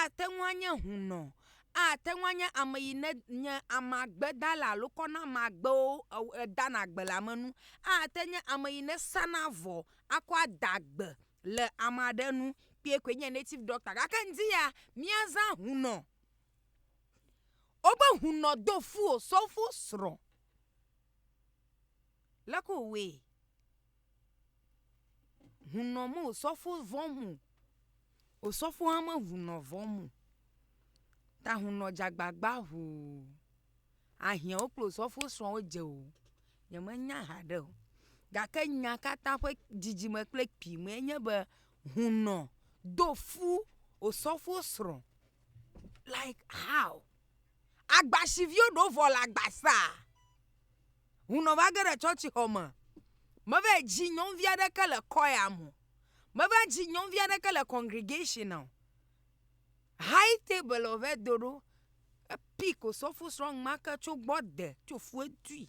Ate ŋu anye hunɔ, ate ŋu anye ame yi ne nye amagbedala alo kɔ na ame agbewo eo edana gbe le ame nu. Ate nye ame yi ne sana avɔ akɔ ada gbe le ame aɖe nu kpɔe koe nye native doctor gake ŋdi ya míaza hunɔ. Wobe hunɔ do fu osɔfosrɔ̃. Leke wòwɔe? Hunɔ me osɔfo vɔ̃ mo, osɔfo hã me hunɔ vɔ̃ mo. Ta hunɔ dze agbagba ŋu ahiãwo kple osɔfo srɔ̃wo dze o. Nyemenya haɖe o gake nya katã ƒe dzidzime kple kpuime enye be hunɔ do fu osɔfo srɔ̃ like how? Agbasiviwo ɖewo vɔ le agba saa. Hunɔ va ge ɖe tsɔtsixɔ me. Meva yi dzi nyɔnuvi aɖeke le kɔya me o. Meva dzi nyɔnuvi aɖeke le congregation o. High table ɔvɛ do ɖo. Epick osɔfosrɔ̃ ŋma ke tso gbɔ de tso fue dui.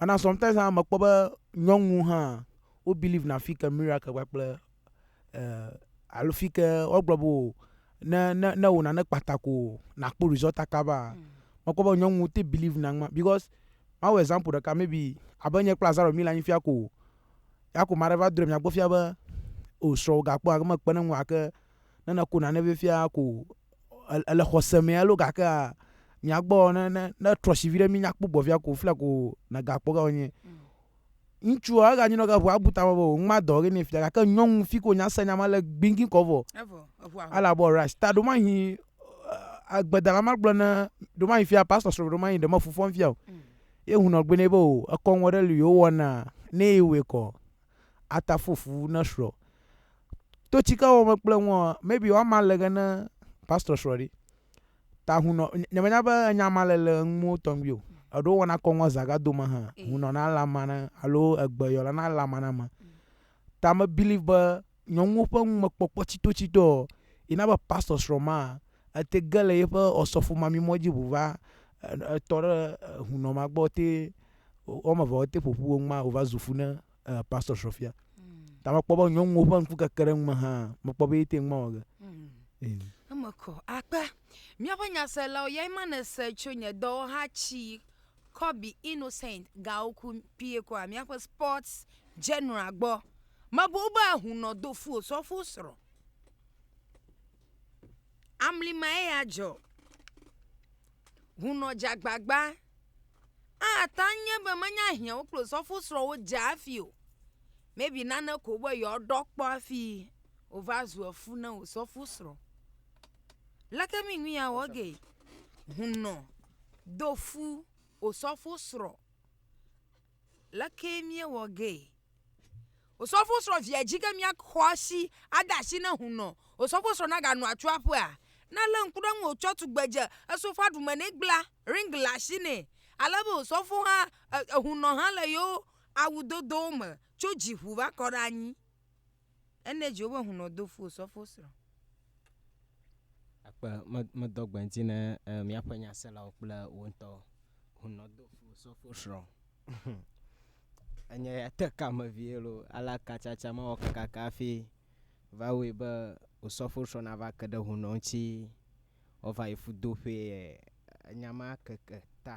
Mana sometimes hã mekpɔ be nyɔnu hã wo believe na fike miracle kpakple eh, alo fike wogblɔ be o ne ne ne wò nane kpata ko nakpɔ result akaba. Mm. Mekpɔ be nyɔnu te believe na ŋma because mawu example ɖeka maybe abe nye kple Azaro mi le anyi fia ko ya ko maɖe va drɔe miagbɔ fia be o srɔ̃wò gakpɔ ake mekpe ne ŋu ake ne ne ko nane be fia ko ele xɔse mɛ alo gake mia gbɔ ne ne ne trɔsi vi ɖe mi nya kpɔgbɔ via ko fia ko na ga kpɔ ga wonye ŋutsu a ga nyinɔ ga ʋu abu ta bɔ ŋma dɔ ge ne fia gake nyɔnu fi ko nya se nya ma le gbingi kɔ vɔ ala bɔ ras ta ɖo ma hi agbedala ma gblɔ ne ɖo ma hi fia pastor srɔ ɖo ma hi ɖe ma fufɔ fia o ye hunɔ gbe ne be o ekɔ ŋɔ ɖe li yo wɔna ne yi wɔ kɔ ata fo fu ne srɔ to tsika wɔ me kple ŋua maybe wa ma le ge ne pastor srɔ ɖi ta hunɔ nye me nya be nya ma le le ŋu mo tɔngbi o eɖo wɔna kɔ ŋua zaga do ma ha hunɔ na la ma na alo egbe yɔ la na la ma na ma ta me believe be nyɔnuwo ƒe ŋu me kpɔkpɔ tsito tsito ina be pastor srɔ ma ete ge le yeƒe ɔsɔfo ma mi mɔ dzi ʋu va etɔ ɖe hunɔ ma gbɔ te wɔme eve wote ƒoƒu wo ŋma wova zu fu ne uh, pastor srɔfia mm. ta mekpɔ be nyɔnuwo ƒe ŋku keke ɖe ŋme hã mekpɔ be yete ŋma wɔ ge mm. eme kɔ akpe míaƒe nyaselawo yae ma nese tso nye dɔwɔha tsi kɔbi innocent gawo ku pie kɔa míaƒe sports general gbɔ mebo be ahunɔ do fu osɔfo srɔ amlimae ya dzɔ hunɔ dzagbagba Ate ŋu nye be menye ahiãwo kple osɔfosrɔ̃wo dze hafi o. Maybe nane ko be yewoaɖɔ kpɔ hafi wòva zu efu na osɔfosrɔ̃. Leke mi nu yeawɔ gee? Hunɔ do fu osɔfosrɔ̃. Lekee míewɔ gee. Osɔfosrɔ̃ via dzi ge míaxɔ asi ade asi ne hunɔ osɔfosrɔ̃ naganɔ atso aƒea. Ne elé ŋku ɖe eŋu wòtsɔ tugbedze esofa ɖume nɛ gbla ring le asi nɛ ale be osɔfo hã hunɔ hã le yewo awudodowo me tso dziƒu va kɔ ɖe anyi. Ene dzi wobe hunɔ do fo sɔfo srɔ̃. Akpe me medɔ gbe ŋti ne e miaƒe nya selawo kple wo ŋtɔ hunɔ do fo sɔfo srɔ̃. Enye ya te ka me vie lo ala ka tsatsa mawɔ kakaka afi va woe be wo sɔfo srɔ̃ na va ke ɖe hunɔ ŋti wo va yi fu do ƒe e enya ma keke ta.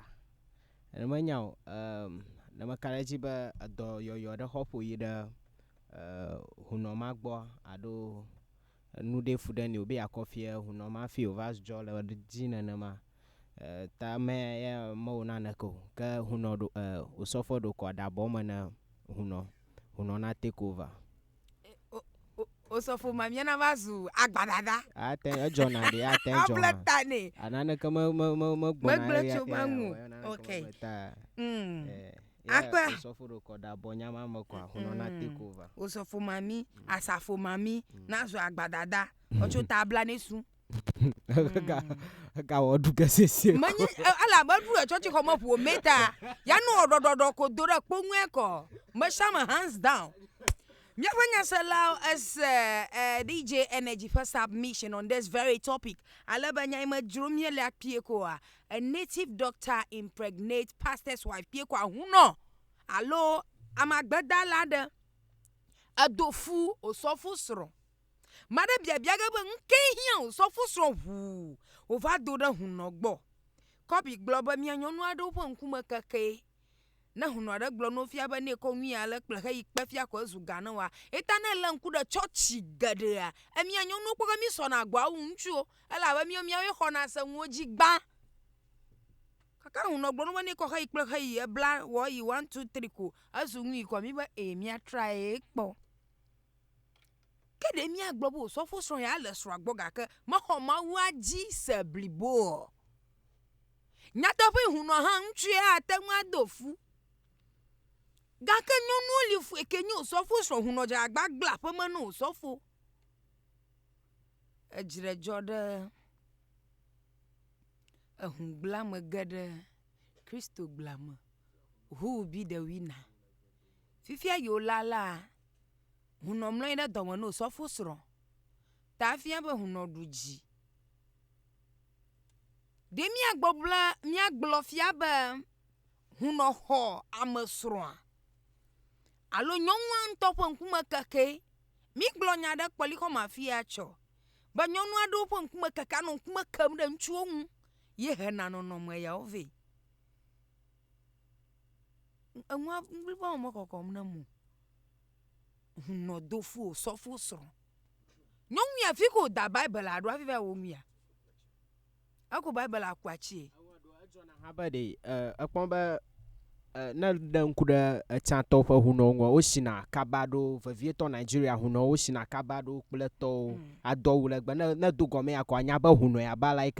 Eme nyao e ne meka ɖe edzi be edɔ yɔyɔ ɖe xɔ ƒo yi ɖe. E, hunɔ ma gbɔ aɖo nu ɖe fu ɖe ni o be yakɔ fie hunɔ ma fi o va zdzɔ le dzi nenema. E, ta me ya me wo na neke o. Ke hunɔ ɖo e, o sɔfɔ ɖo kɔ da bɔ me ne hunɔ. Hunɔ na take over. E, o, o, o sɔfɔ ma mia na va zu agba dada. A te edzɔ na ɖe a te edzɔ. Able ta ne. A na neke me, me, me, me gbɔ na. Me gble tso me ŋu. Ok. Mm. E. Akpa. Osɔfo ɖo kɔ da bɔ nyama me kɔ akunɔ na te ko va. Osɔfo mami, asafo mami, nazɔ agbadada, ɔtso ta abla ne sun. Eka eka wɔ du kesese. Menyi ala be du etsɔ ti xɔme ƒo meta. Ya nu ɔdɔdɔdɔ ko do ɖe kpoŋue kɔ. Meshama hands down. Míaƒe nyaselawo ese eh, DJ Energy ƒe submission on this very topic. Ale be nya yi me dzrom míele akpie koa, a native doctor impregnate pastor's wife kpie ko ahunɔ alo amagbedala aɖe edo fu osɔfo srɔ̃. Ame aɖe biabia ge be nu kae hiã osɔfo srɔ̃ ŋu wòva do ɖe hunɔ gbɔ. Kobe gblɔ be, Mía nyɔnu aɖewo ƒe ŋkume kekee. Ne hunu aɖe gblɔ no fia be ne kɔ nyuie ale kple he yi kpe fia ko ezu ga ne wa. Eta ne le ŋku ɖe chɔchi geɖea, emia nyɔnuwo kpɔ ke mi sɔ na gbɔ awu ŋutsuwo. Ele abe mi miawo xɔ na se ŋuwo dzi gbã. Kaka hunu gblɔ no be ne kɔ he yi kple he yi ebla wɔ yi one two three ko ezu nyuie ko mi be e mia tra ye kpɔ. Ke ɖe mia gblɔ be osɔfo srɔ ya le srɔ gbɔ gake me xɔ mawu adzi se bliboɔ. Nyateƒee, hũnɔ hã ŋutsue ate ŋu ado fu. Gake nyɔnuwo li fue ke nye osɔfo srɔ̃ hũnɔ dze agbagblẽ aƒeme na osɔfo. Edzre dzɔ ɖe ehũgblẽ ame ge ɖe Kristogblẽ me ŋu bi ɖe Wina. Fifia yi wolea la, hũnɔ mlɔ anyi ɖe dɔme na osɔfo srɔ̃ ta efia be hũnɔ ɖu dzi. Ɖe míagbɔgblɔ míagblɔ fia be hunɔ xɔ ame srɔ̃a? Alo nyɔnua ŋutɔ ƒe ŋkume kekee? Mígblɔ nya ɖe kpɔlixɔme afi ya tsɔ be nyɔnu aɖewo ƒe ŋkume kekea nɔ ŋkume kem ɖe ŋutsuwo ŋu ye hena nɔnɔme yawo vɛ. Enua ŋuti va wɔ mekɔkɔm nam o. Hun nɔ do fu o sɔ fu srɔn. Nyɔnu ya fi ko da Bible aɖo afi va wo nua. Eko Bible aku atsie. Habe ɖe ekpɔ be ne ɖe ŋku ɖe etsatɔ ƒe hunɔwo ŋgɔ wosina kaba ɖo vevietɔ Nigeria hunɔwo wosina kaba ɖo kple tɔwo mm. ado awu legbe ne ne do gɔme ya ko anya be hunɔ ya ba like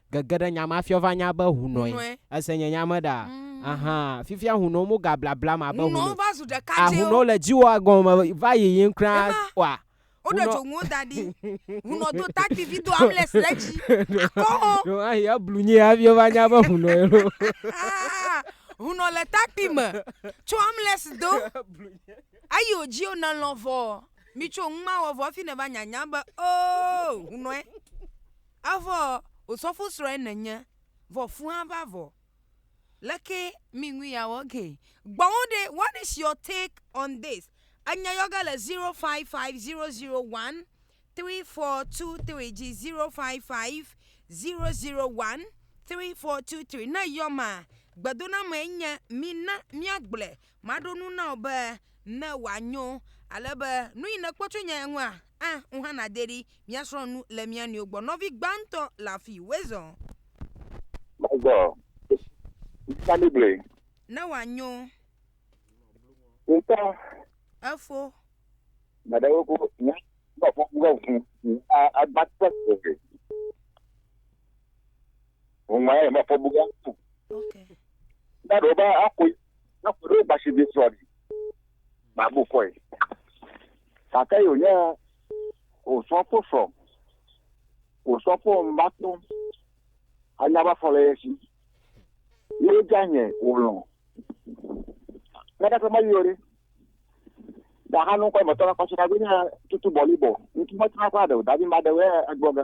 gege ɖe nya ma fiɔ va nya be hunɔe Hunɔe. ese nye nya me ɖa ahan fifia hunɔe mo ga blablam abe Hunɔewo hunɔe va zu ɖeka ah hunɔewo dzewo. le dziwò agɔme va yiyim kura Ema, wa Woɖe hunɔ dzonuwo da ɖi. Hunɔ do takpi vi do ambles ɖe dzi. Akɔ hɔn. ɖewo hã yi eblu nyuie hafi wova nya be hunɔe ɖo Aa hunɔ le takpi me tso ambles do. Eyi wò dzi o ne lɔ̃ vɔ mitso numa wɔ vɔ hafi neva nya nya be oo hunɔe. Evɔ ò sɔfosrɔe nènye, vɔ fũa va vɔ. Leke mi ŋu yeawɔ ge? Gbɔwo ɖe, what is your take on this? Enya yɔ ge le 0550013423 dzi 0550013423. Ne yɔ ma, gbedonamee nye, Mina míagblɔe Maɖo nu na wò be ne wòanyo ale be nu yi nèkpɔ tso nye ŋua, a ŋu hã nàde ɖi míasrɔ̃ nu le mía nɔewo gbɔ. Nɔvi gbãtɔ le afi wezɔ. Mezɔ. Ŋuta mi gblɔe. Ne wòanyo. Ŋuta. Efo. Nya ɖewo ko nya gbɔ gbɔ gbɔ ŋu a agbã tɔ tɔ. Wòŋlɔe abe afɔbuga ko. Na ɖewo be akoe, na ƒo ɖewo gbasi vi srɔ̃ ɖi. Mabu kɔe. Gake yi wònye wòsrɔ̃ kpo srɔ̃. Wòsrɔ̃ kpo mba kpɔ. Anya be afɔ le ye si. Ye wodze anye wòlɔ̃. Nana ƒe ma yio ɖe. Ɖahanu kɔ emetɔ la kɔ si na be nye tutu bɔlibɔ. Ŋutu metrɔna kɔ aɖe o. Davi ma ɖe wɛ egbɔ ge.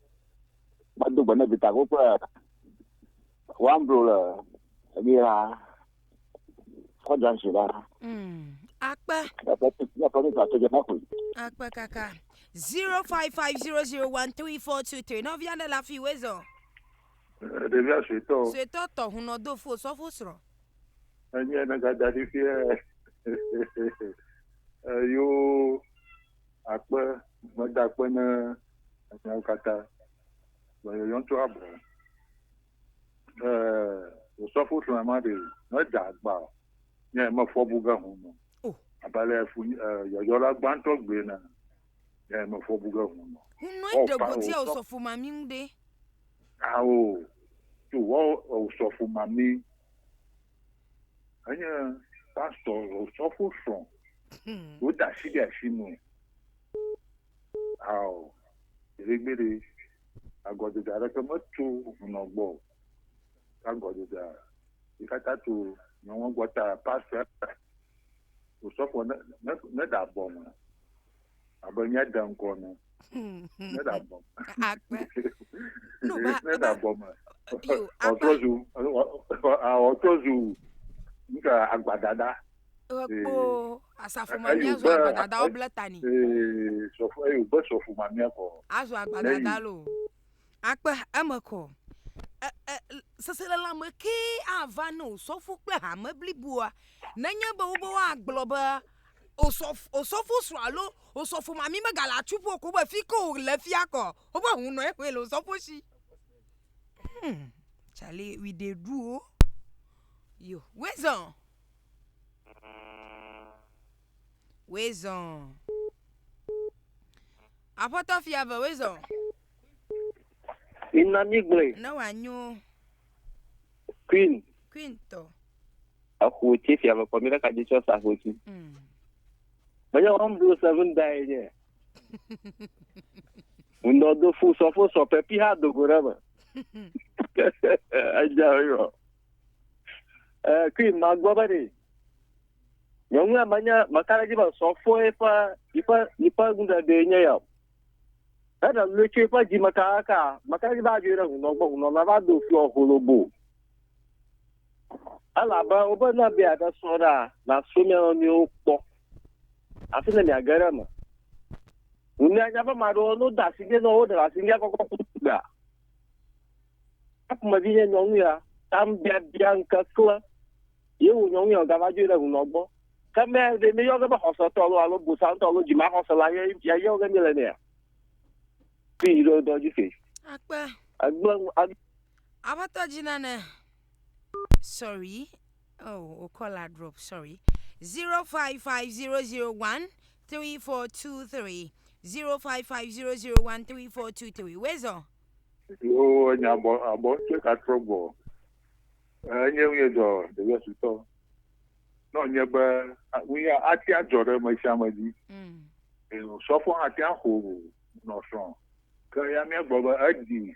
Mado gbe ne vitago kple wamblo le ebi la kɔ jansi la. Mm. Akpe. Eƒe eƒe mi ta tege na koe. Akpe kaka. 0550013423. Nɔvia ɖe le afi wòe zɔ. Ɖevia suetɔ o. Suetɔ tɔ hunɔ do fo sɔfo srɔ̃. Enye ne gada ɖi fie. Eyo. Akpe, meda akpe ne miawo katã. Gbɔyɔyɔ ŋutɔ abɔ. Ee, osɔfo srɔ̃a ma ɖe meda agba o. Nye mefɔ bu ge home o. Oh. Abe ale fu eh, yɔyɔla gbãtɔ gblɔe ene. Nye mefɔ bu ge home o. Hunɔe Wɔ ɖe fa- godia osɔ- osɔfo mami ŋu ɖe. Ao, to wɔ osɔfo mami. Enye pastɔ sɔfo srɔ̃. Hmm. Woda asi ɖe asi me. Ao, gbeɖegbeɖe, agɔdede aɖeke metso hunɔ gbɔ. Agɔdedea, yi katã to nyɔnua gbɔ ta pastɔ sɔfo ne ne ne da bɔ me. abe nye de ŋkɔ ne. Ne da bɔ. Akpe. No ba. Ne da bɔ me. Yo. Ɔtrɔ zu. Ɔtrɔ zu. Nka agbadada. Ekpo asafo ma mi azɔ agbadada wo ble tani. Ee sɔfo eyo be sɔfo ma mi akɔ. Azɔ agbadada lo. Akpe eme kɔ. Seselelãme kee ava ne o sɔfo kple hame bliboa nenye be wobe woagblɔ be osɔf, osɔfo srɔ̃ alo osɔfo mami megale atsu ƒo ko be fi ke wòle fia kɔ, woƒe hunɔ ye koe le osɔfo si. Hmm, Charlie, we dey do o. Yo, wezɔn. Wezɔn. Aƒetɔ fia ve, wezɔn. Mina mi gblɔe. Ne wòanyo. Queen. Queen tɔ. eƒo tsi fia mekɔ mi ɖeka dzi tsɔ sa ƒo tsi mm. menye wɔm do seven da yi nye ŋdɔ do fu sɔ fo sɔ pepi ha dogo ɖe me edza yɔ ɛɛ kui ma gbɔ be de nyɔnu ya menya meka ɖe dzi be sɔ fo eƒe eƒe eƒe ŋdɔ do yi nye ya eɖe lu tsi eƒe dzi meka ka meka ɖe dzi be adzɔ yi ɖe ŋdɔ gbɔ ŋdɔ na va do fu ɔholobo. Elabe wobe ne be yeaɖe srɔ̃ ɖa, nasrɔ̃ mia nɔnɔewo kpɔ, afi ne miage ɖe eme. Ŋu ne anya be ame aɖewo no da si dzi ne woɖe le asi ŋgea kɔkɔ ku gbea, ne ƒomevi nye nyɔnu ya, tam biabia ŋke klẽ, ye wò nyɔnu ya wògava dzoe ɖe ŋunɔ gbɔ. Ke me ɖe míeyɔ ge be xɔsetɔ alo alo bosantɔ alo dzimaxɔse la ye ya yɔ ge míele nea? Fi yi ɖo dɔ dzi fi. Akpe. Egblẽ nu. Aƒetɔ dzi nane sorry oh o caller drop sorry 0550013423 0550013423 wezɔ Yo enya abɔ abɔ tse ka trɔ gbɔ. Enye ŋu yedzɔ ɖevia sutɔ. Nɔ nye be ŋu ya ati adzɔ ɖe me sia me dzi. mm. Sɔfɔ hã tia xo nɔ srɔ̃. Ke ya mía gbɔ be edi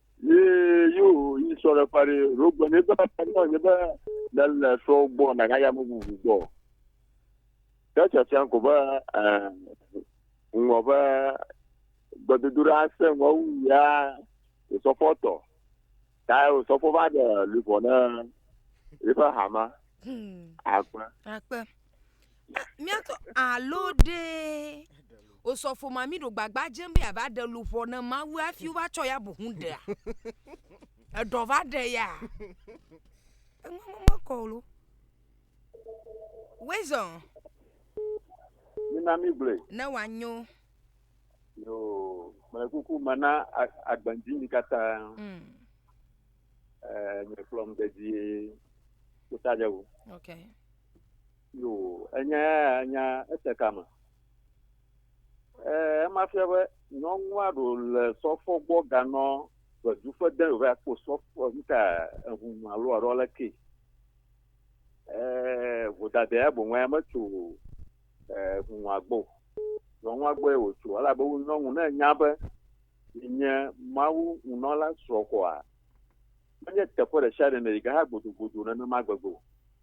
Ye yóò yi sɔ ɖe ƒa ɖe ɖo gbɔ ne bena ta nɔ nye be ne le sɔ gbɔ na ga ya me bubu gbɔ. Ke tsatsa ko be ŋgɔ be gbedodo ɖe ase ŋgɔ wu ya sɔfɔ tɔ. Ta o sɔfɔ va de lubɔ ne eƒe hama. Akpe. Akpe. míatɔ alo ɖe osɔfo ma mi ɖo gbagba dzem be yeava ɖe luʋɔ ne Mawu hafi wova tsɔ ya bu ŋu ɖea? Eɖɔ va ɖe ya? Enua me mekɔ o lo. Wezɔ Mina mi gblɔe. ne wòanyo. Yoo, mele kuku me na a- agbedzi mi katã. Mm, Eh, Nye kplɔm dedie. Kota dze wu. okay. Yo, enya ya ya nya ete kame. E, ema fia be nyɔnua ɖo le sɔfɔ gbɔ ganɔ gbedu ƒe de yòva kpɔ sɔfɔ nuta ehunu alo aɖo le ke. E, vodade ya boŋ ya metso ehunua gbɔ. Nyɔnua gbɔ ye wòtso elabe wo nyɔnu ne nya be nye Mawu nunɔla srɔ̃ kɔa menye teƒe ɖe sia ɖe ne yi ke ha gbodogbodo nenema gbegbe o.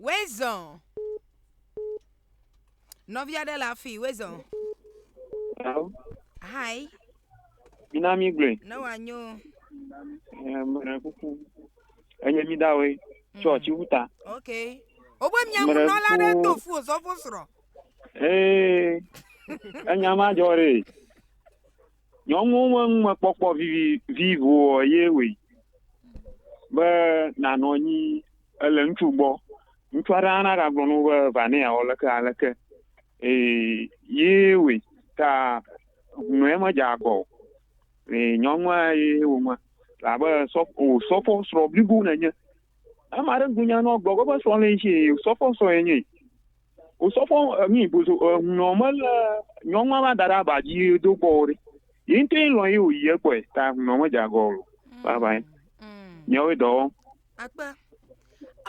Wezɔn. Nɔvi aɖe le afi wezɔn. Hello. Hi. Mina mi gblɔe. Ne wòanyo. Mele kuku. Enye mi dawoe. Tsɔ tsi wu ta. Ok. Wobe miamunɔla aɖe do fu ozɔfo srɔ̃. Ee. Enya ma dzɔ ɖe. Nyɔnuwo ƒe numekpɔkpɔ vivi ŋuɔ ye wɔe be nanɔ anyi ele ŋutsu gbɔ. Ŋutsu aɖe hã nagagblɔ na wo be va ne yeawɔ leke aleke ee ye wɔe ta ŋu ye medze agbɔ o. Ee nyɔnua ye wɔ nua abe sɔ osɔfo srɔ̃ blibo nènye. Ame aɖe ŋugble nya ne woagblɔ be eƒe srɔ̃ le esi osɔfo srɔ̃ enye. Osɔfo emi bozo ehunɔ mele nyɔnua va da ɖe aba dzi do gbɔ o ɖe. Yi ŋutɔ ye lɔn ye wòyi ye gbɔe ta ehunɔ medze agɔ o. Vavãe. Nyawo ye dɔ wɔm. Akpe.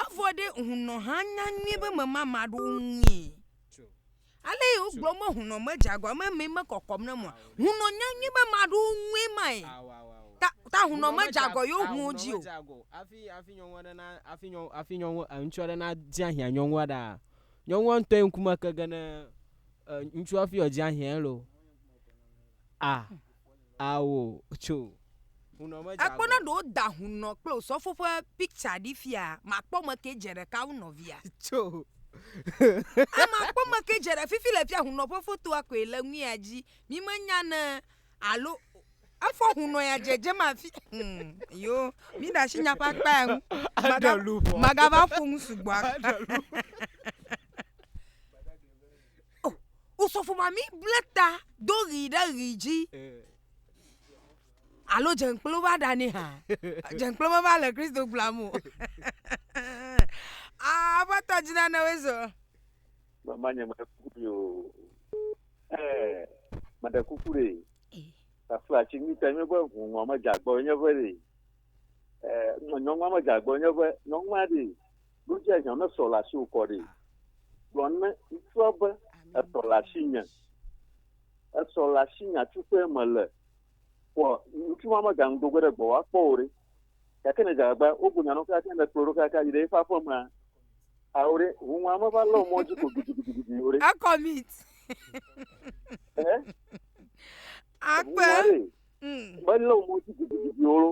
Evɔ ɖe hunɔ hã nya nyuie be mema ame aɖewo ŋui. Ale ye wogblɔ be hunɔ medze agɔ ame mi mekɔkɔm ne mɔ. Hunɔ nya nyui be maɖo ŋue mae. Ta, ta hunɔ medze agɔ yewo huwo dzi o. Afi, afi nyɔnu aɖe na, afi nyɔnu, afi nyɔnu, ŋutsu aɖe na dzi ahiã nyɔnua ɖa. Nyɔnua ŋutɔ ye ŋkume ke ge ne ŋutsua fi wòdzi ahiãe lo. A, ao, tso. Ekpɔ na ɖo da hunɔ kple osɔfo ƒe picture ɖi fia makpɔ me ke dze ɖeka wu nɔvia. Tso. Ama kpɔ me ke dze ɖe fifi le fia hunɔ ƒe fotoa koe le ŋuia dzi. Mi me nya ne alo efɔ hunɔ ya dzedze ma fi. Hmm. Yo, mi da shi nya ƒe akpa ya ŋu. Maga, magava ƒo ŋu sugbɔ. O, osɔfo mami ble ta do ɣi ɖe ɣi dzi. Alo dzenkplo va ɖa ni hã. Dzenkplo me va le Kristo gbla mu. Ah, va ta dzina ne wezo. Mama nye me kuku yo. Eh, me de kuku re. Ta fla chi mi te me be hu ngwa me jagbo nye ve re. Eh, nyɔnwa me jagbo nye ve, nyɔnwa re. Nu dzea hiã ne srɔ̃ le asiwò kɔ ɖi. Gblɔ ne ŋutsua be, Esrɔ̃ le asinye. Esrɔ̃ le asinye afi ke mele. Vɔ ŋutsu ma mega ŋu do ge ɖe gbɔwò akpɔ wò ɖe. Gake ne èdze agbagba wogblɔ nya na wò kekeake ne èkplɔ wo ɖo kekeake ayi ɖe eƒe aƒemea, ao ɖe, huhɔ̃a meva lé wò mɔ dzi ko gidigidigidi o ɖe. Ecommit. Ehe. Akpe. Huhɔ̃a ɖe, melé wò mɔ dzi gidigidi o ɖo.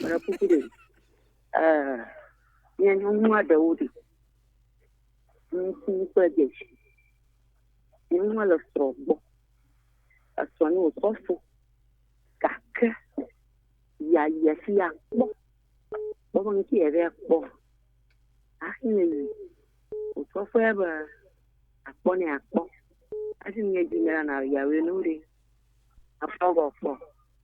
Meɖe kuku ɖe, ɛɛ nye nyɔnu aɖewo ɖi. Ŋutsu kple ɖevi. Nyɔnua le srɔ̃ gbɔ. Esrɔ̃ nɛ wòkɔ fɔ gake ya yia fi ya kpɔ. Kpɔ be nu ke yavɛ kpɔ hafi ne yi o. Wòtrɔ kpɔe be akpɔ nɛ akpɔ. Hafi ne yi edzi me la na yeawɛ nu ɖe. Akpɔ be kpɔ.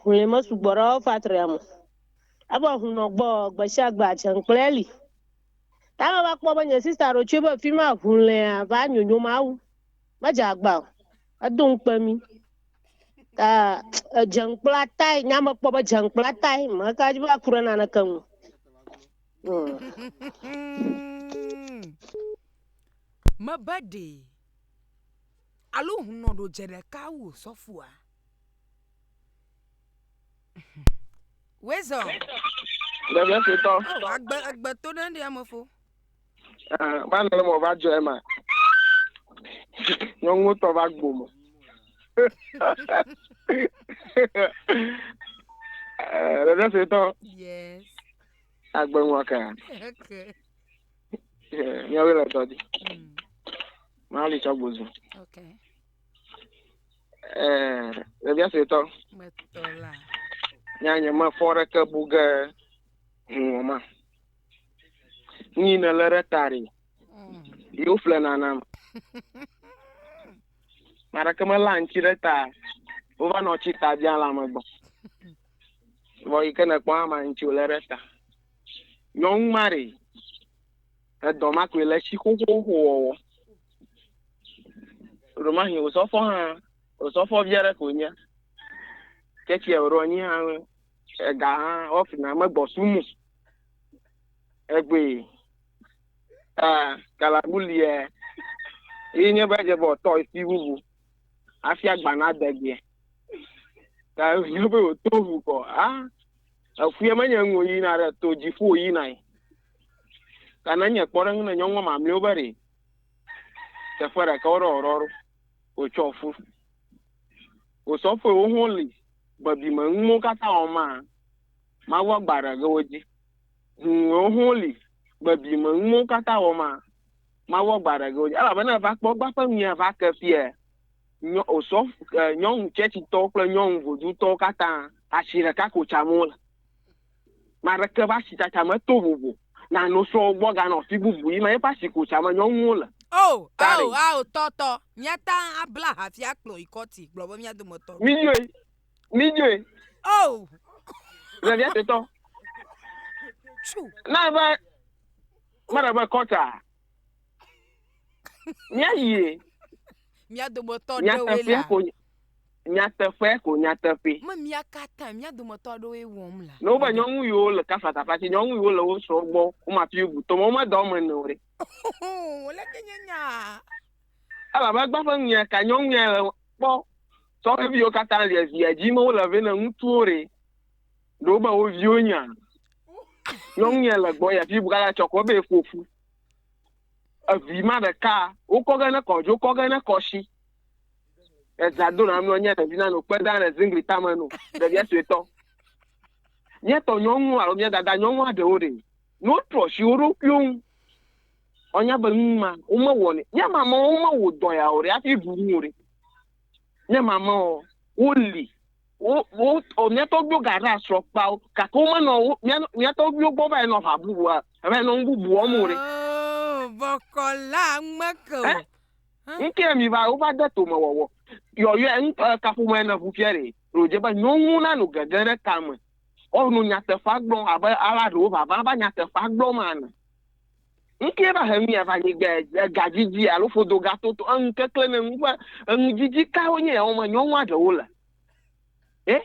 Hũli me sugbɔ ɖe ɔfatria me. Evɔ hũnɔ gbɔ gbeshiagbe atsɛnkplɛ li. Ta me va kpɔ be nye sista ɖo tsoe be fima hũlea va nyonyo mawu. Medze agba o. Edo ŋukpe mi. Ta edze ŋukpla tai, nya me kpɔ be dze ŋukpla tai, meka dzi be aku ɖe naneke ŋu. Mebe ɖee. Alo hũnɔ ɖo dze ɖeka wu sɔfua. Wezɔ. Ɖevia suetɔ. Oh, agbe egbe to ɖe ɖe ame fo. Eh, va nɔ mo va dzɔ ema. Nyɔnuwo tɔ va gbo mo. Eh, ɖevia suetɔ. Yes. Agbe ŋua ka. Okay. Eh, nyɔnuwo le tɔ di. Mm. Mali tsɔ gbozu. Okay. Eh, ɖevia suetɔ. Metɔ la. Nya nye mefɔ ɖeke bu ge huwɔ ma. Nyi ne le ɖe ta ɖi. Mm. Yo fle nanam. Maɖeke me la ŋtsi ɖe ta. Wova nɔ tsi ta bia la me gbɔ. Vɔ yi ke ne kpɔ ama ŋtsi le ɖe ta. Nyɔnu ma ɖi. Edɔ ma koe le tsi xoxoxo wɔwɔ. Ɖomahi osɔfɔ hã, osɔfɔ vi aɖe koe nye. Ke tsia wòɖo anyi hã, ega hã wɔfina megbɔ sum o. Egbee. Aa, galabu lia, yi nye be dze be wòtɔ esi bubu hafi agba nadegbeɛ. Ta wònye be wòto ŋu kɔ, aa, Eƒuɛ menye nu yina ɖe to dziƒo yina yi. Ka ne nye kpɔ ɖe ŋu ne nyɔnua mamlɛwo be ɖe teƒe ɖeka wo ɖe ɔɖɔ ɖo wotsɔ ƒu. Wosɔ ƒue wo ho li gbebi me nu mɔwo katã wɔm ma mawu agba ɖe ge wo dzi. Hum wo ho li gbebi me nu mɔwo katã wɔm ma mawu agba ɖe ge wo dzi. Elabena eva kpɔ gba ƒe nui eva ke fiɛ. nyɔ, wòsɔ e, nyɔnu tsɛtsitɔwo kple nyɔnu vodzutɔwo katã. Asi ɖeka ko tsam wole. Ame aɖeke ƒe asitsatsa meto vovo. Nano sɔ wo gbɔ ganɔ afi bubu yim eƒe asi ko tsam nyɔnuwo le. Ao, ao, ao, tɔ, tɔ. Míate ŋu abla aha hafi akplɔ yi kɔti. Gblɔ be mía dometɔ ɖe. Mídzoe, mídzoe. Ao. Le via tetɔ. Tsu. Na be, mele be kɔtia. Míayie. Mía dometɔ aɖewoe Nyateƒea lea. ko nya- nyateƒea ko nyateƒe. Me mía katã mía dometɔ aɖewoe wɔm lea. Ne wobe nyɔnuviwo le kafatafa tsi, nyɔnuviwo le wo srɔ̃ gbɔ, womafi wo bu tome, womedɔ eme ene o ɖe. Oh, le ke nye nyaa. Elabe egbea ƒe nunya ka nyɔnunya le kpɔ. Sɔhɛviwo katã lia via dzi me wole vɛ ne ŋutsuwo ɖe. ɖe wo be wo viwo nya nyɔnu ya le gbɔ ya fi buka la tsɔ kɔ be eƒoƒu evi ma ɖeka wokɔ ge ne kɔdzo kɔ ge ne kɔsi eza do na mlɔ nye ɖevi na no kpe da le zingli tame no ɖevia suetɔ míetɔ nyɔnu alo mía dada nyɔnu aɖewo ɖe ne wotrɔ si wo ɖokuiwo ŋu wonya be nu ma womewɔ ne nye mama womewɔ dɔ ya o ɖe hafi bu nu o ɖe nye mama woli Wo, wo, o, mía tɔgbuiwo gaɖe asrɔ kpa wo, gake womenɔ wo, mía, mía tɔgbuiwo gbɔ va yi nɔ aʋa bubu, a, va yi nɔ nu bubu wɔm o ɖe. Oo, bɔkɔ la ŋmeke o. Ɛ? Hã? Ŋkee mi va, wova de tome wɔwɔ. Yɔyɔe, ŋ, ɛ, kaƒomea ne ʋu fiɛ ɖee. Ɖe wòdze be nyɔnu nanɔ gege ɖe tame, woanɔ nyateƒea gblɔm abe ale ɖewo vava va nyateƒea gblɔm ene. Nu kee va he nu ya va anyigba egadidi alo ƒodogatotɔ enu keklẽ ne nu ƒe enudidi kawo nye yawo me nyɔnua ɖewo le e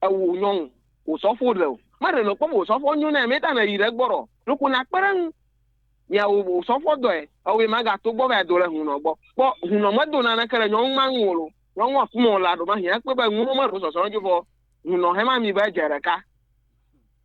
ewu nyɔnu wòsɔfo ɖe o maɖe nɔ kpɔm wòsɔfo nyo na meta ne yi ɖe gbɔ ɖɔ ɖoko na kpe ɖe ŋu miawo wòsɔfo dɔe ewe magato gbɔ va do le hunɔ gbɔ kpɔ hunɔ medo naneke le nyɔnu ma ŋu o nyɔnua kumɔ la ɖo ma hiã kpe be ŋuno meɖo sɔsɔ ŋu vɔ hunɔ hema mi be dze ɖeka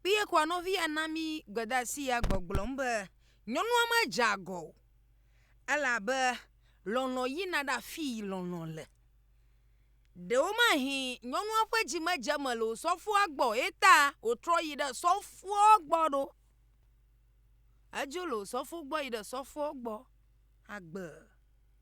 Kpee kɔa nɔvi ya na mí gbedasi ya gbɔgblɔm be, Nyɔnua medze agɔ o, elabe lɔlɔ̃ yina ɖe afii lɔlɔ̃ le. Ɖewomahee nyɔnua ƒe dzi medze eme le osɔfoa gbɔ o eyeta wòtrɔ yi ɖe sɔfoa gbɔ ɖo. Edzo le osɔfo gbɔ yi ɖe sɔfoa gbɔ agbe.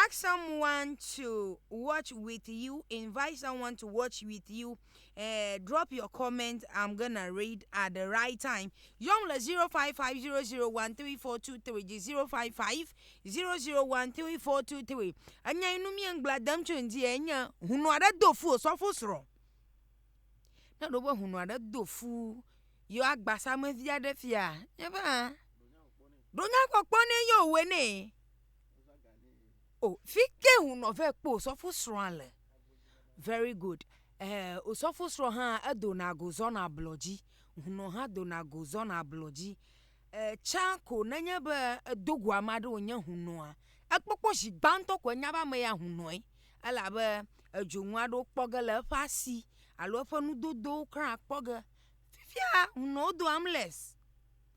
Ask someone to watch with you, invite someone to watch with you, uh, drop your comment, I'm gonna read at the right time. Yɔm le 0550013423 dzi 0550013423. Enya yi nu mie ŋgbla dem tso ŋdi enye hunu aɖe do fu osɔfo srɔ̃. Ne ɖo be hunu aɖe do fu yɔ agbasame vi aɖe fia, nye be hã ɖo nyakpɔkpɔ ne yɔ wɔ nɛ. o fike hunɔ vɛ kpɔ osɔfo srɔ̃a le very good eh, osɔfo srɔ̃ hã edona go zɔna ablɔ dzi hunɔ hã dona go zɔna ablɔ dzi eh, tsã ko nenye be edo go ame aɖe wònye hunɔa ekpɔkpɔ zi gbãtɔ ko enya be ame ya hunɔe elabe edzonu aɖewo kpɔ ge le eƒe asi alo eƒe nudodowo kura kpɔ ge fifia hunɔwo do amles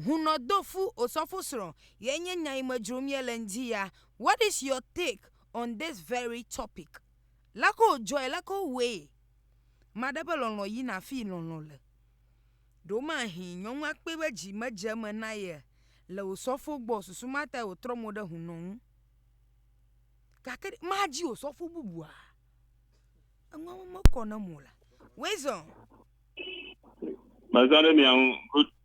Hunɔ do fu osɔfo srɔ ye nye nya yi me dzrom ye le ŋdi ya what is your take on this very topic leke wo dzɔe leke wo wɔe maɖe ƒe lɔlɔ yi na fi yi lɔlɔ le ɖewo ma hi nyɔnua kpe be dzi me dze me na ye le osɔfo gbɔ susu ma ta wo trɔ mo ɖe hunɔ ŋu gake ma dzi osɔfo bubua eŋua me kɔ ne mo la wezɔ. Mezã ɖe mia ŋu.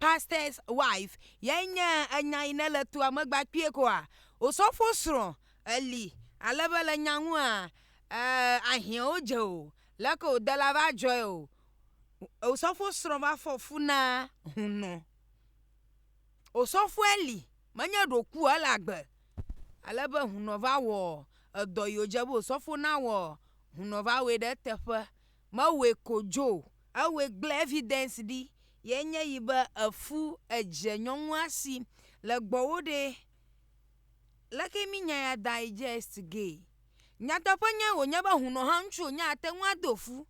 Pastor's wife yae nye enya yi ne le toa me gbakpuie koa? Osɔfo srɔ̃ eli ale be le nya ŋua ee ahiãwo dze o leke wòde la va dzɔe o. Osɔfo srɔ̃ va fɔ fu na hunɔ. Osɔfo eli menye ɖe wòku o ele agbe ale be hunɔ va wɔ edɔ yi wòdze be osɔfo nawɔ hunɔ va wɔe ɖe eteƒe mewɔe ko dzo o, ewɔe gblẽ evidence ɖi ye nye yi be efu edze nyɔnua si le gbɔwo ɖe leke mi nya ya digest ge nyateƒe nye wo nye be hunɔ hã ŋutsu wo nye ate ŋu ado fu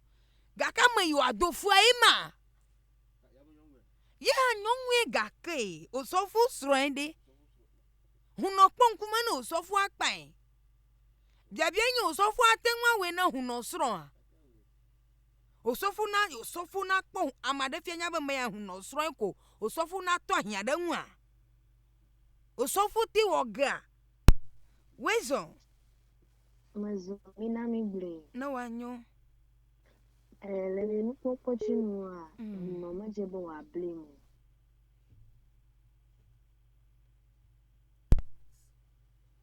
gake ame yi wa do fua ye ma ye hã nyɔnue gake osɔfo srɔe ɖe hunɔ kpɔ ŋkume ne osɔfoa kpae Biabiae nye osɔfoa ate ŋu awɔe na hunɔ srɔ̃a? Osɔfo na osɔfo nakpɔ ame aɖe fia nya be mea hunɔ srɔ̃e ko osɔfo nato ahiã ɖe eŋua? Osɔfo te wɔ gea? Wezɔ. Mezɔ mina migblɔe. Ne wòanyo. E, le nye nukpɔkpɔ dzi nua, mm. hunɔ medze be wòabli mo.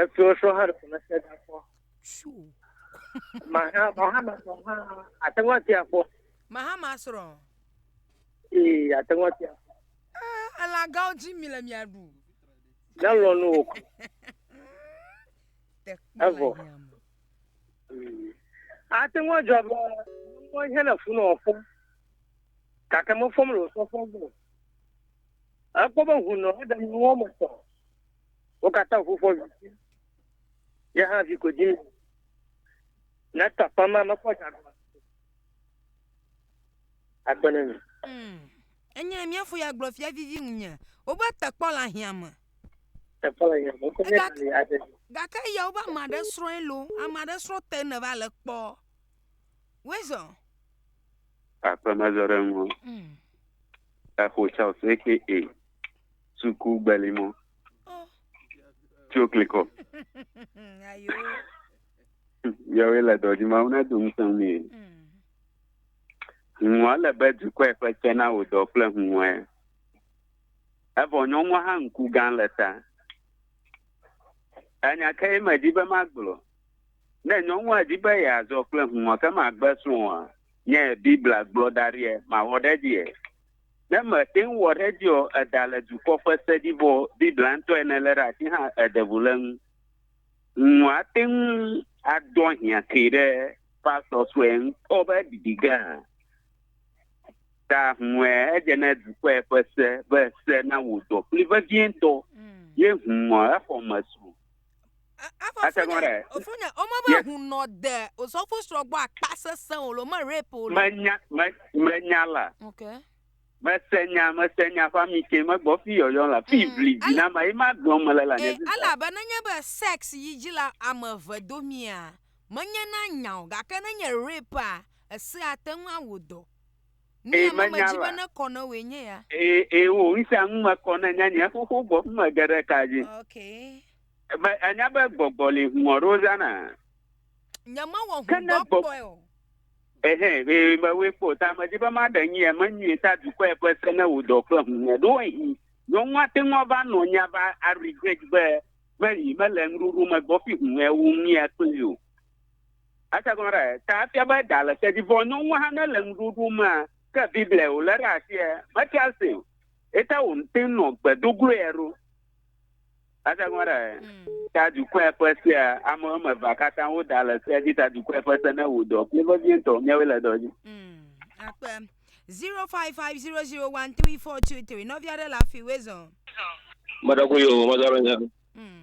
Eto sɔ hã ɖe me se da kpɔ. Maha maha ma sɔ hã ate ŋu ati akpɔ. Maha ma srɔ. Ee ate ŋu ati akpɔ. Ee eh, elagãwo dzi mi le mia ɖu. Ne lɔ nu wò kɔ. Evɔ. Ate ŋu adzɔ be mɔ ihe le funu ɔfɔ. Gake mefɔm le osɔfɔ gbɔ. Ekpɔ be hunɔ eɖe nuwɔ me sɔ. Wo katã ŋu ƒo vi. Ye hã vi ko dim. Ne tɔ kpɔm ma mekpɔ dza gɔme. Akpe ne mi. Mm. Enye mía fo ya gblɔ fia vivi ŋunye. Wobe tekpɔ le ahiã me. Tekpɔ le ahiã me. Wokɔ mía Gake- le ade. Gake eya wobe ame aɖe srɔ̃e lo. Ame aɖe srɔ̃ te ne va le kpɔ. Wezɔ. Aƒe mezɔ ɖe ŋu. Mm. Exo Charles aka suku gbeli mɔ tso klikɔ Ayo. yɔwe le dɔdzi ma wona do ŋusẽ mi Mm. huŋua le be dukɔe ƒe tse na wò dɔ kple huŋɔe evɔ nyɔnua hã ŋku gã le ta enya ke ye medi be magblɔ ne nyɔnua di be yeazɔ kple huŋɔ ke magbe srɔ̃a nye biblia gblɔ da ɖie mawɔ ɖe edzi e Ne mète ŋu wɔ ɖe edzi o, èda le dukɔ ƒe se dzi vɔ Biblia ŋutɔ ye nèlé ɖe asi hã èɖe ŋu le eŋu. Ŋu ate ŋu adɔ hiã kee ɖe pastor sue ŋutɔ ƒe ɖiɖi ge hã. Ta ŋue edze ne dukɔe ƒe se be se na wò dɔ kpli vevietɔ ye ŋu exɔ me sru. Ate ŋu ɖe. Ofonya, wome be Yes. ŋu nɔ de osɔfo srɔ̃ gbɔ akpa sesẽ o le wome rape o le. Menya, me, menya la. Ok. Mese nya, mese nya ƒe ami ke megbɔ fi yɔyɔ la. Fi Mm, ʋli dzi ele- na ma ye ma gblɔm mele le anye Ee, sisa. elabe nenye be sex yi dzi le ame eve domea, menyena nya o gake nenye rapea, esea ate ŋu awɔ dɔ. Nu Ee, ya meme menya dzi be la. nekɔ na wòe nye ya. Ee, ee, wo ŋusẽa ŋu mekɔ ne nye nye xoxo gbɔ ƒe mege ɖe ka dzi. Ok. Be ènya be gbɔgbɔ li hũɔ ɖe wozãna. Nyemewɔ Ke ŋu ne dɔ gbɔ- kpɔe o. Ehe, ee, mewɔe kpɔ o. Ta medi be maɖe nu ye me nyuie ta dukɔe ƒe se ne wò dɔ ƒe hũhɔe. Ɖewohĩ nyɔnua ate ŋu ava nɔ anyi ava a-regret be meli mele nuɖoɖo me gbɔ ƒi hũhɔe wu nu ya kpli o. Ese gɔme ɖe? Ta efia be ɖa le tedzi vɔ nyɔnua hã ne le nuɖuɖu mea ke Biblia wòlé ɖe asie metia se o. Eta wòte ŋu nɔ gbe do gloe eɖo. Ese gɔme ɖe? Hmm. Ta dukɔe ƒe sea ame wɔme evea katã woda le sea dzi ta dukɔe ƒe se ne wò dɔ kple vevie ŋutɔ miawoe le dɔ dzi. Hmm. Akpe. 0550013423 nɔvi aɖe le afi wezɔ. Meɖe ko yo, mezɔ ɖe nya. Hmm.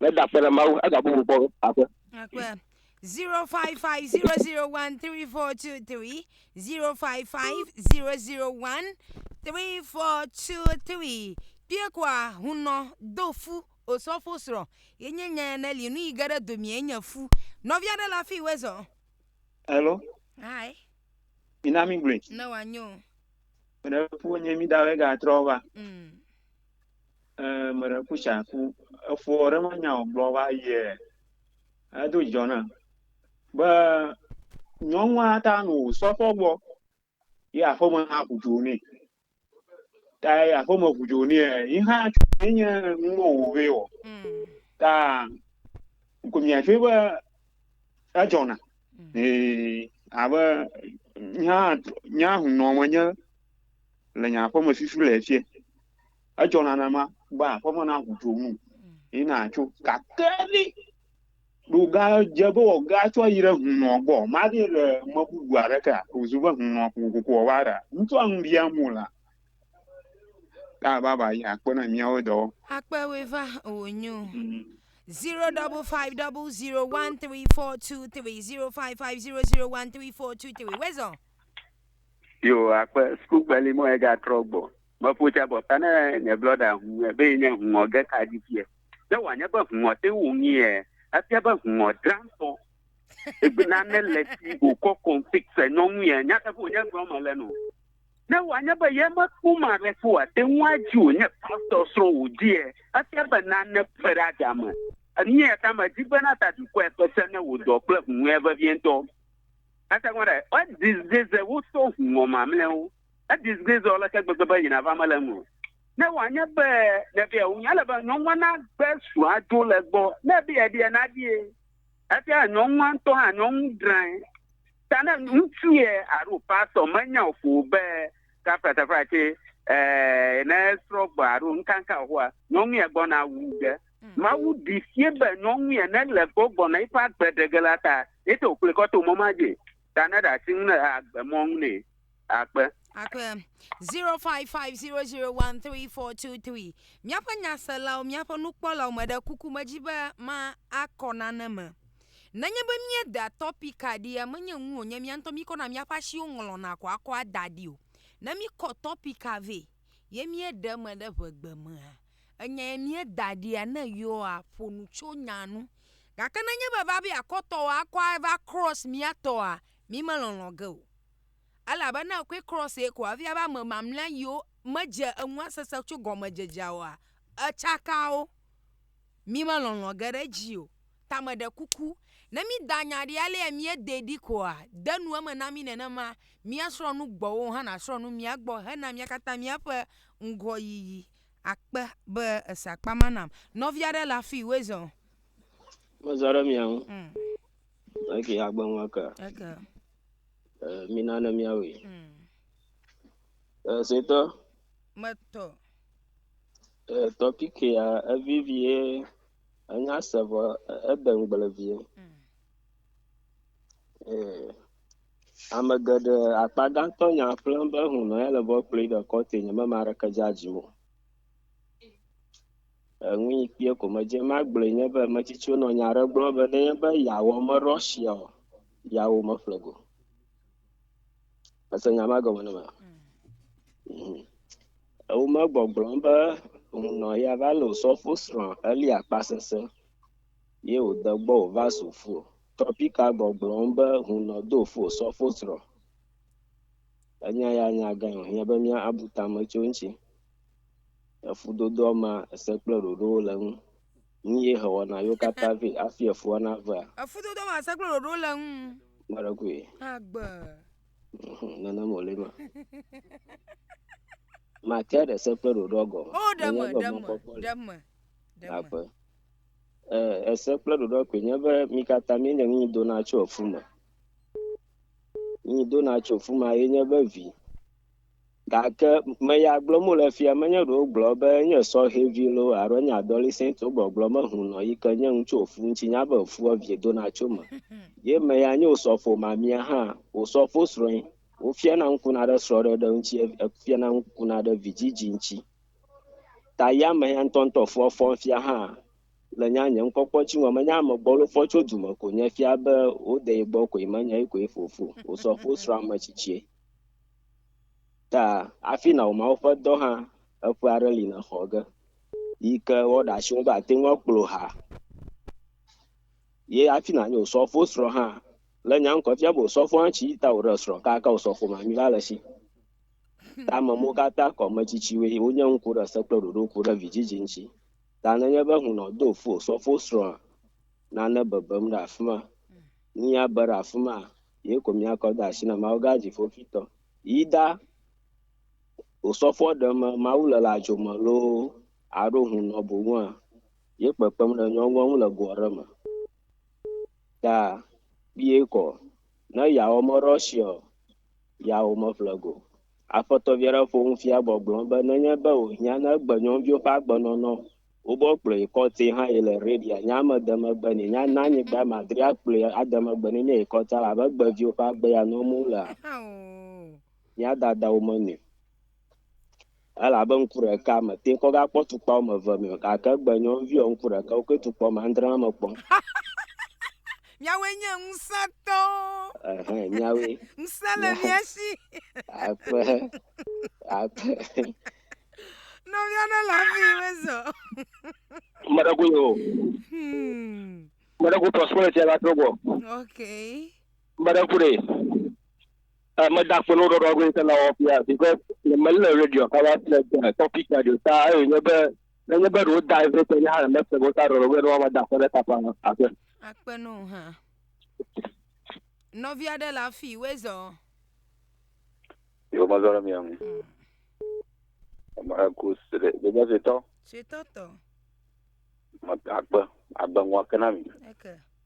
Ne da akpe ɖe Mawu, ega bubu kpɔ aƒe. Akpe. 0550013423 0550013423 Kpiekoa hunɔ do fu osɔfo srɔ̃ yenye nya ya ne li nu yi ge ɖe domie nye fu nɔvia ɖe la fi wezɔ. Hello. Hi. Mina mi gblui. Ne wanyo. Ɖe fu nye mi da wega trɔ va. Mm. Eee meɖe ku tsa ku efo ɖe me nya o gblɔ va yɛ edo djɔ na be nyɔnua ta nu sɔ fɔ gbɔ ye aƒeme hã ʋu dzo nɛ ta ye aƒeme ʋu dzo nɛ yi hã tso ne nye nuwo wo vɛ o ta ko mia tso be edzɔ na ee abe nya nya hu nɔ me nye le nye aƒeme fifi le fie. Edzɔ nanema be aƒeme na ʋu tso nu yi na tso gake ni ɖo ga dze be wɔ ga tsɔ yi ɖe hunɔ gbɔ ma ɖi le me bubu aɖe ke o zu be hunɔ ko ko ko wa ɖa ŋutsu anu bia mu la ta baba yi akpe na mia wo dɔ Akpe we va o nyo. Zero double five double zero one three four two three zero five five zero zero one three four two three. Where's on? Yo, akpe sukukpeli mɔ ega trɔ gbɔ. Me ƒo tsa bɔ fana nye blɔda hu ebe nye hungɔ ge ka di fie. Ne wà nye be hungɔ te wo ŋi yɛ, efia be hungɔ dra ŋtɔ. Egbe na ne le si go kɔ config se nɔ ŋu yɛ, nya te ƒo nye gblɔ me le no. Ne wà nye be yɛ me kpɔ ma re fo wà te ŋu adzi wo nye pastɔ srɔ wo di yɛ, efia be na ne ƒe ɖe aga me. Enu yɛ ta me di be na ta dukɔɛ kpe se ne wo dɔ kple hungɔɛ vevie ŋtɔ. Ate ŋu ɖe, edi zeze wo to ŋɔ mamlɛwo. Edi zeze wo aleke gbegbe be yina va mele eme o. Ne wòanye be nèbia wo ŋu, ele be nyɔnua nagbe srɔ̃a dzo le egbɔ. Ne ebia eɖia, naɖie. Efia nyɔnua ŋutɔ hã, nyɔnu drãe. Ta ne ŋutsu ye alo pastor menya o ƒo be kafla kafla tse, eh, ne srɔ̃ gbɔ alo nukanka o hoa, nyɔnu ya gbɔna wu ge. Mawu ɖi sie be nyɔnu ene le gbɔ gbɔna eƒe agbe ɖege la ta. Ete wòkplɔe kɔ to mɔ ma dzi ta ne ɖe asi ŋu ne agbe mɔ ŋu nɛ. Akpe. Akpe. 0550013423 Míaƒe nyaselawo, míaƒe nukpɔlawo, meɖe kuku medzi be ma akɔ nane me. Nenye be míedea tɔpika ɖia, menye ŋu wònye mía ŋutɔ míkɔna míaƒe asiwo ŋlɔna ko akɔa da ɖi o. Ne míkɔ tɔpika vɛ ye míeɖe eme ɖe ŋegbe mea, Enyae míeda ɖia ne yewoa ƒo nu tso nyaa ŋu. Gake ne enye be va be akɔtɔwo akɔ ava cross mía tɔa, mí me lɔlɔ̃ ge o. Elabe ne ekɔe cross ye ko afia be ame mamlɛa yiwo me dze enua sese tso gɔme dzedzea oa, etsaka wo. Mí me lɔlɔ̃ ge ɖe edzi o. Ta me ɖe kuku, ne mí da nya ɖi alea mía dee ɖi koa, de nu eme na mí nenema, mía srɔ̃ nu gbɔwò hã na srɔ̃ nu mía gbɔ hena mía katã mía ƒe ŋgɔyiyi. Akpe be ese akpa ma nam. Nɔvi aɖe le afii, woe zɔ. Mezɔ ɖe mia ŋu. Mm. Eke agbe ŋu eke. Eke. Eh, mina ne miawoe. Mm. Eh, setɔ. Metɔ. Eh, tɔpiki ya evivie enya se vɔ ede ŋgble vie. Mm. Ɛɛ, ame geɖe, akpa gãtɔ nya ƒlem be hũnɔ ya le be woakplɔe ɖe kɔtue nye be ame aɖeke dze adzim o. Enu yi kpɔe ko medze ema gblɔe nye be ame tsitsiwo nɔ nya aɖe gblɔm be ne nye be yeawɔ me ɖɔ sia o, yeawo meƒle go. Ese nya ma gɔme ne mea? Mhm. Ewo megbɔgblɔm be hũnɔ ya va le osɔfo srɔ̃ Elia kpa sese. ye wòde gbɔ wòva zu fu o. Tropika gbɔgblɔm be hunɔ do fu osɔfo srɔ̃. Enya ya nya gãe wòhiã be míabu tame tso eŋuti. Le fudodoa mea, ese kple ɖoɖowo le eŋu. Nu ye hewɔna yewo katã vɛ hafi efua navea? Le fudodoa mea, ese kple ɖoɖowo le eŋu. Ame aɖe koe. Agbe. Ŋhum, Nenema wòle ema. Matea ɖe se kple ɖoɖoa gɔme. O, ɖe Nenye me, be ɖe me, mɔkpɔkpɔ li. ɖe me, ɖe me. Aƒe. E, ese kple ɖoɖoa koe nye be mi katã mienye nu yi dona tso efu me. Nu yi dona tso efu me ye nye be vi. Gake me ya gblɔm wole fia menye ɖewo gblɔ be enye sɔhɛvi lo alo enye adolescent wo gbɔgblɔ mehu nɔ yi ke nye nu tso efu ŋuti nya be efua vie dona tso me. Ye me ya nye wosɔfo mamia hã wosɔfo srɔ̃e. Wofiana ŋkuna ɖe srɔ̃ɖeɖe ŋuti efiana ŋkuna ɖe vidzidzi ŋuti. Ta ya me ya ŋutɔŋutɔ fɔ fɔm fia hã le nya nye ŋkɔkpɔ tsi ŋɔ menya ame gbɔ lofɔ tso dume ko nye fia be wode yi gbɔ koe menye yi koe fofo wosɔ fo srɔ̃ ame tsitsie ta afi na wòma woƒe dɔ hã eƒe aɖe li na xɔ ge yi ke wɔɖe asi ŋu be ate ŋu akplɔ ha ye afi na nye wòsɔ fo srɔ̃ hã le nya ŋkɔ fia be wòsɔ fo hã tsi ta wòɖe srɔ̃ kaka wòsɔ fo mami la le si Ke ame mawo katã kɔ ame tsitsiwoe wonye ŋku ɖe se kple ɖoɖo ŋku ɖe vidzidzi ŋuti. Ta nenye be hunɔ do fo sɔfo srɔ̃a, nane bebem ɖe afi ma. Mía be ɖe afi ma, ye ko mía kɔ de asi na Mawu gã dziƒoƒitɔ. Yi da wò sɔfoa ɖe me Mawu le la dzo me loo aɖo hunɔ boŋua, ye kpekpem ɖe nyɔnua ŋu le go aɖe me. Ta kpuie kɔ. Ne yawɔ mɔ ɖe ɔ siɔ, ya womeƒle go. Aƒetɔ vi aɖe ƒo nu fia gbɔgblɔm be nenye be wòhiã ne egbe nyɔnuviwo ƒe agbenɔnɔ o, wobɔ kplɔe yi kɔti hã yi le Arabia nyea me de megbe nɛ. Nya na anyigba madri akplɔe ade megbe nɛ míayi kɔti ale abe egbe viwo ƒe agbe ya nɔm wolea? Mía dadawo menɔe. Elabe ŋku ɖeka mete ŋu kɔ gakpɔ tukpa wɔme eve mɛ o, gake egbe nyɔ ŋviɔ, ŋku ɖeka wo koe tukpɔ wɔme andre ma me kpɔ. Miawoe nye ŋusẽtɔwo. Ɛhɛ, miawoe. Ŋusẽ le Mia- mia shi. Akpe, akpe. Nɔvia ɖe le afi yi mezɔ. Ame ɖe koe o. Hmm. Ame ɖe ko prosperity va trɔ gbɔ. Ok. Ame ɖe ku ɖe. Eh, me da kpɔnɔ ɖɔɖɔ go ŋutɔ na wɔfia because le me le radio ka va se de topic ya ɖo ta ayo nye be ne nye be ɖo da eve te nye ha le me se go ta ɖɔɖɔ go no ma da kpɔnɔ ta pa ase. Akpe no ha. Nɔvi aɖe le afi we zɔ. Yo ma zɔ mi am. Ma ku se de de se to. Se to to. Ma akpe agbe ngwa kana mi. Okay.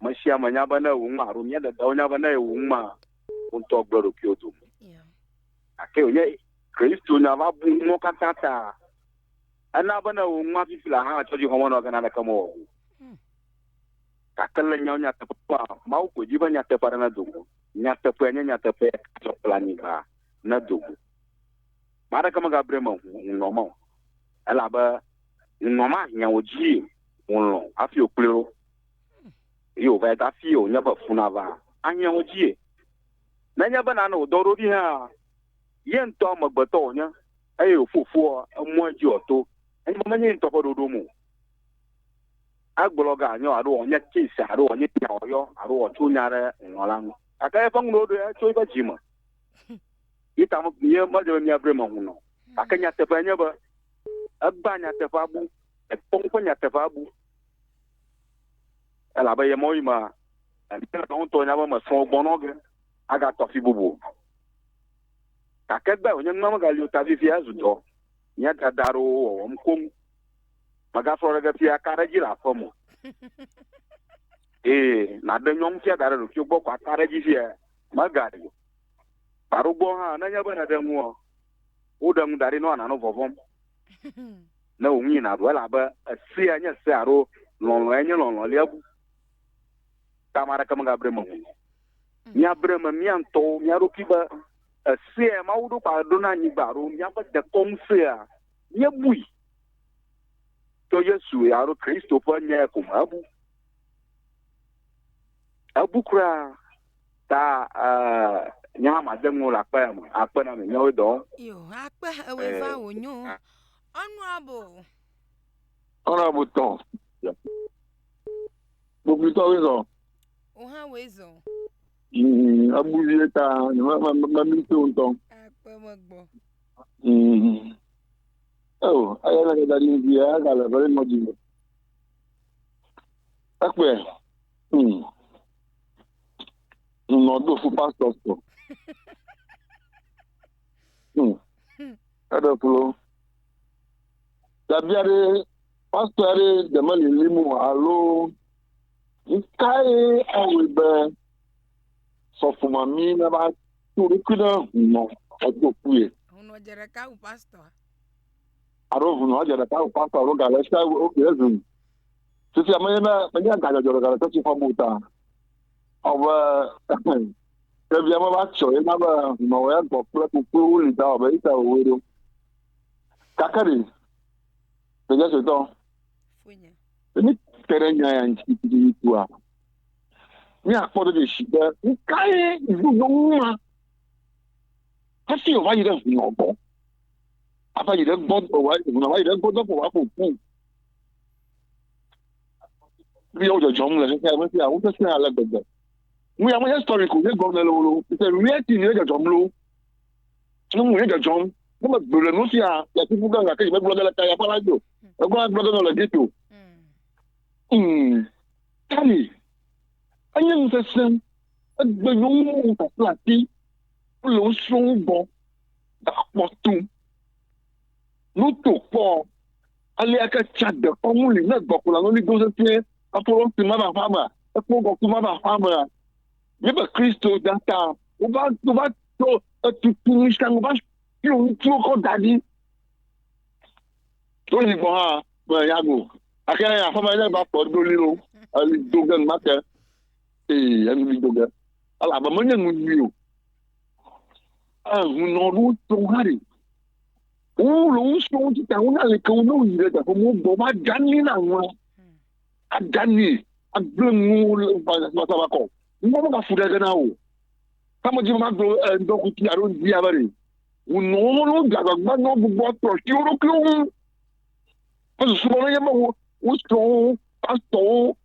Me sia me nya be ne ewu ŋma, alo mía dadawo nya be ne ewu ŋma, wo ŋutɔ gblẽ ɖokuiwo dome. Gake wònye Kristo nya va bu nuwo katã ta. Ena be ne ewu ŋma fifi la hã tsɔ dzixɔ menɔ gana aɖeke mewɔ o. Hmm. Gake le nyawo nyateƒea, Mawu ko dzi be nyateƒe aɖe nedo go. Nyateƒea nye nyateƒe tsɔ kple anyigba nedo go. Ame aɖeke megabri me ŋunɔ me o. Elabe ŋunɔ mahiã wò dzi ŋulɔ hafi wòkplɔe wo. Eye wòva yi dafii wònye be fu nava ahiã wo dzie. Nenye be nane wòdɔ eɖokui hãa, ye ŋutɔ amegbetɔ wònye eye wòƒo fua, emɔa dzi wòato. Nenye be menye ye ŋutɔ ƒe ɖoɖom o, egblɔ ga nya o alo wòanye case alo wòanye nya wòyɔ alo wòatso nya ɖe ŋlɔ la ŋu. Gake eƒe nu ɖoɖoe ya tso eƒe dzi me. Ye ta me ye medze be míaʋli eme ŋu nɔ o. Gake nyateƒea nye be egbea nyateƒea bu, ekpɔ ŋu ƒe nyateƒea bu. Elabe ye mɔɣi mea, eŋuti ɖewo ŋutɔ nya be mesrɔ̃ wo gbɔnɔ ge agatɔ afi bubu. Gake gbe wònye nua megali o ta vivia zu dɔ nye dada aɖewo wɔwɔm koŋ. Megasrɔ̃ ɖe ge fia ka ɖe edzi le aƒe me o. Ee, nàɖe nyɔnu fia da ɖe ɖokuiwò gbɔ ko aka ɖe edzi fia megali o. Gbaɖogbɔ hã, nenye be nèɖe nuɔ, woɖe ŋu da ɖi nɔ nànɔ vɔvɔ̃m ne wò ŋu yi nàɖu elabe esea nye se alo lɔlɔ̃e nye lɔlɔ̃ lia ŋu ta ame aɖeke megabre eme o. Míabre eme mía ŋutɔwo mía ɖokui be esea Mawu ɖo kpa ɖo na anyigba alo míaƒe dekɔnu sea míebui tso Yesu alo Kristo ƒe nyae ko me ebu. Ebu kura ta nya hã made ŋuwo le akpa ya me akpe na me nyawo dɔ. Yo akpe ewe va eh, wo nyo. Ah. Ɔnuabo. Ɔnuabo tɔ. Gbogbo tɔ wo zɔ. O hã wo zɔ. Mm, abu vie ta ma ma ma mi to ŋutɔ. Akpe me gbɔ. Mm. Oh, ayɛ na ke da di vi ya ga le vele mɔ di me. Ekpe. Hmm. Nɔ do fu pastor so. Hmm. Eɖe klo. Dabia ɖe pastor ɖe deme lilim o alo nkae awɔe be sɔfomami nava to ɖokui ɖe hunɔ edo kue. Hunɔ dze ɖeka wu pastor. Alo hunɔ dze ɖeka wu pastor alo gale sia wu oke ezun. Fifia menye ne menye agadzɔdzɔ ɖeka ɖe sesi fɔm o ta. Ɔbe ɖevia me va tsɔ ye na be nɔwɔ ya gbɔ kple kuklu wuli ta ɔbe ita wowe ɖo. Kake ɖe ɖevia sɔetɔ. Emi te ɖe nya ya ŋuti tututu tua. Míakpɔ ɖe ɖe si be nu kae ŋu nyɔnu ma hafi wòva yi ɖe ŋunɔ gbɔ. Ava yi ɖe gbɔ wòva yi ɖe gbɔ dɔƒo wòaƒo ƒu. Viwo dzɔdzɔm le xexea me fia, wosesẽ ale gbegbe. Nu ya menye stori ko nye gɔme le o lo, it's a reality ye dzɔdzɔm lo. Nyɔnu ye dzɔdzɔm. Ne megblɔ le nu sia le kuku gã gake megblɔ ge le kaya ƒe la dzi o. Egblɔ la gblɔ ge nɔ le ghetto. Mm. Kali. Enye nu sesẽ. Egbe nyɔnuwo kple ati. Wole wo srɔ̃wo gbɔ. Gakpɔ tum. Nuto kpɔ. Alea ke tsã dekɔnu li ne gbɔkplɔla lɔli do sesĩe hafi lɔ ŋutsu ma va aƒea mea? Ekpɔ ŋkɔkui ma va aƒea mea? Míebe Kristo da ta. Wova, wova tsɔ etutu nu sia nu va fiɔ ŋutsuwo kɔ da ɖi. Ɖo yi gbɔ hã me ya go. Ake ya aƒea me ne va kpɔ ɖo li lo, eli do ge numa ke. Ee, enu li do ge. Ele abe menye nu nyui o. Ehunɔ ɖo tso hã ɖi. Woŋlɔ wo srɔ̃wo dzi ta wona aleke wo ne woyi ɖe teƒe mɔ gbɔ woaɖanui na ŋua aɖanui agblẽ nuwo le vasava kɔ ŋua megafu ɖe ge na wo kame dzi magblɔ ŋdɔ kuti alo ŋdi ya bere wonɔ wo ne wode agbagba ne wogbogbo atrɔ asi wo ɖokuiwo ŋu esusu bɔ nenye be wo wo srɔ̃wo pastɔwo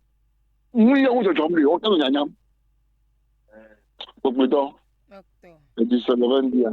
nu ye wo dzɔdzɔm ɖe wote le nyanyam gbogbo dɔ Doctor. edzi sebe be ŋdi ya.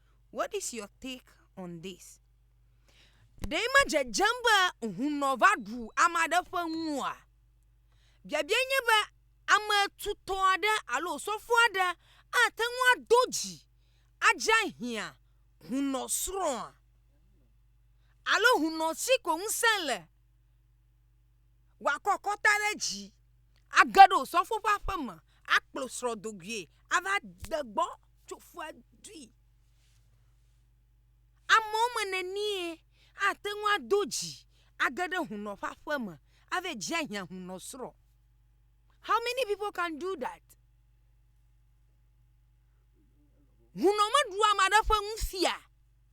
what is your take on this ɖee medzedzem be hunɔ va ɖu ame aɖe ƒe nu oa? Biabiae nye be ame tutɔ aɖe alo osɔfo aɖe ate ŋu ado dzi adze hiã hunɔsrɔ̃a? Alo hunɔ si ko ŋusẽ le wòakɔ akɔta ɖe edzi age ɖe osɔfo ƒe aƒe me akplɔ srɔ̃ do goe ava de gbɔ? tso fua dui. Amewo me nenie ate ŋu ado dzi age ɖe hunɔ ƒe aƒe me ave dzia hiã hunɔ srɔ̃? How many people can do that? Hunɔ meɖua ame aɖe ƒe nu fia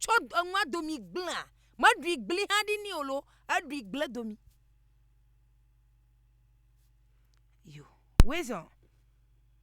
tsɔ enua domi gblẽa, meɖui gblẽ hã ɖi nɛ o loo, eɖui gblẽ domi.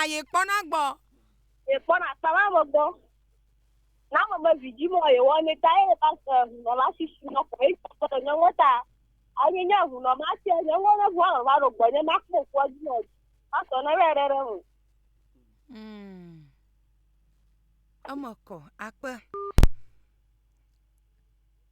Aye kpɔna gbɔ. Ye kpɔna kpama me gbɔ. Na me me vidzi mo ye wɔ ne ta ye ba se hunɔ ma si si no ko ye ko to ne ngota. Aye nya hunɔ ma se ne ngo ne vwa ma ro gbɔ ne ma ko ko di no. Ma so na re re re mu. Mm. Ema ko akpe.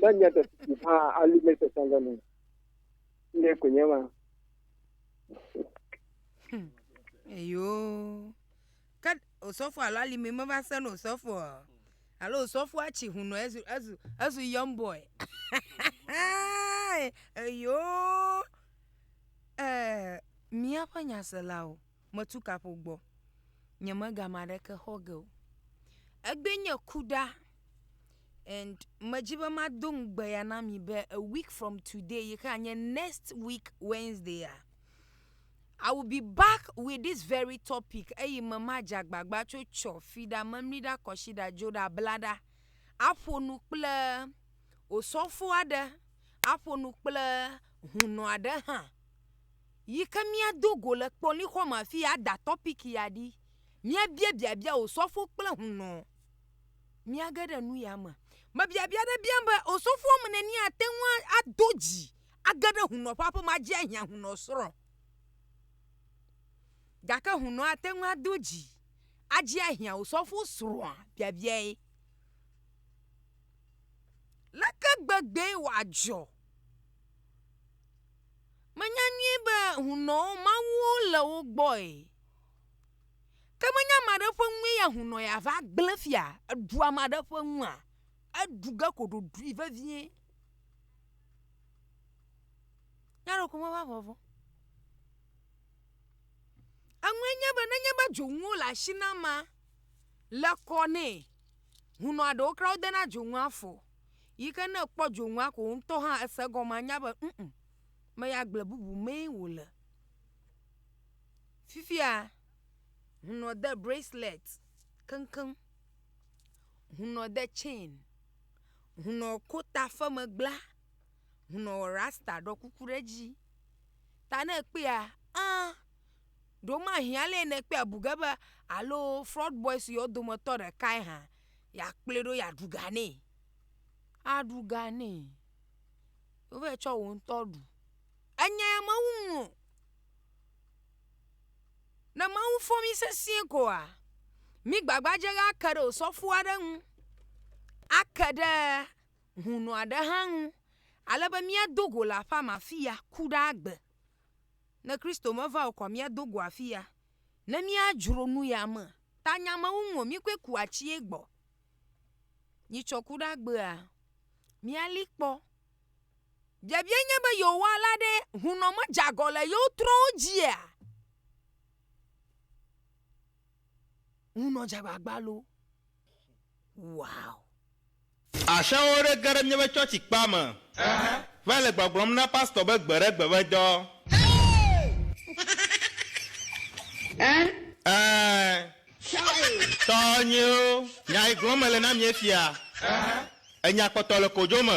Ne nye ɖe si hã ali le sesẽ ɖe me. Ne ko nye ma. Hmm. Eyo. Ke osɔfo alo alimi meva se no osɔfo. Alo osɔfo atsi hu no ezu ezu ezu young boy. Eyo. Eh, míaƒe nyaselawo. metu kaƒo gbɔ. Nyemega ame aɖeke xɔ ge o. Egbee nye ku ɖa and medzi be mado ŋugbe ya na mi be a week from today yi ke anye next week Wednesdaya, I will be back with this very topic eye me madze agbagba tso tsɔ, fi ɖa, memli ɖa, kɔshi ɖa, dzo ɖa, bla ɖa aƒo nu kple osɔfo aɖe, aƒo nu kple hunɔ aɖe hã. Yi ke míado go le kpɔlixɔ me afii ada tɔpiki ya ɖi. Míabia biabia Osɔfo kple hunɔ. Míage ɖe nu ya me. Mebiabia aɖe biam be, Osɔfo ame nenie ate ŋu ado dzi age ɖe hunɔ ƒe aƒe me adzi ahiã hunɔ srɔ̃? Gake hunɔ ate ŋu ado dzi adzi ahiã osɔfo srɔ̃a? Biabiae. Leke gbegbee wòadzɔ? Menya nyuie be hunɔwo mawuwo le wo gbɔe. Ke menye ame aɖe ƒe nue ya hunɔ yeava gblẽ fia aɖu ame aɖe ƒe nua? Aɖu ge ko ɖoɖoe vevie. Nya aɖewo ko meva vɔ̃ vɔ. Eŋue nye be nenye be dzonuwo le asi na amea, le kɔ nɛ, hunɔa ɖewo kura wodena dzonu afɔ o. Yi ke ne ekpɔ dzonua ko ŋutɔ hã ese egɔme anya be ŋ ŋ me ya gble bubu mee wòle. Fifia hunɔ de bracelet keŋkeŋ, hunɔ de chain, hunɔ ko ta ƒe megbla, hunɔ wɔ rasta ɖɔ kuku ɖe edzi. Ta ne ekpɔea ã ɖewomahi alɛ ne ekpɔe abu ge be alo fraud boys yewo dometɔ ɖekae hã. yeakplɔe ɖo yeaɖu ga nɛ. Aɖu ga nɛ. Wova yi tsɔ wò ŋutɔ ɖu. Enya ya mewu ŋu o. Ne Mawu fɔ mí sesĩe koa, mí gbagbadze be ake ɖe osɔfo aɖe ŋu, ake ɖe hũnɔ aɖe hã ŋu ale be míado go le aƒea me afi ya ku ɖe agbe. Ne Kristo meva o koa míado go afi ya ne míadzro nu ya me. Ta nyamewu ŋo mí koe ku atsiɛ gbɔ. Nyi tsɔ ku ɖe agbea? Mía li kpɔ. Biabia nye be yewo wa la ɖe hunɔ me dze agɔ le yewo trɔwo dzia? Hunɔ dze agbagba loo. Wow. Axiawo ɖe ge ɖe míaƒe tsɔtsi kpea me va le gbɔgblɔm na pastor be gbe ɖe gbe ƒe dɔ. Ɛɛ, tɔnyewo, nya yi gblɔm mele na mi efia, enya kpɔtɔ le kodzo me.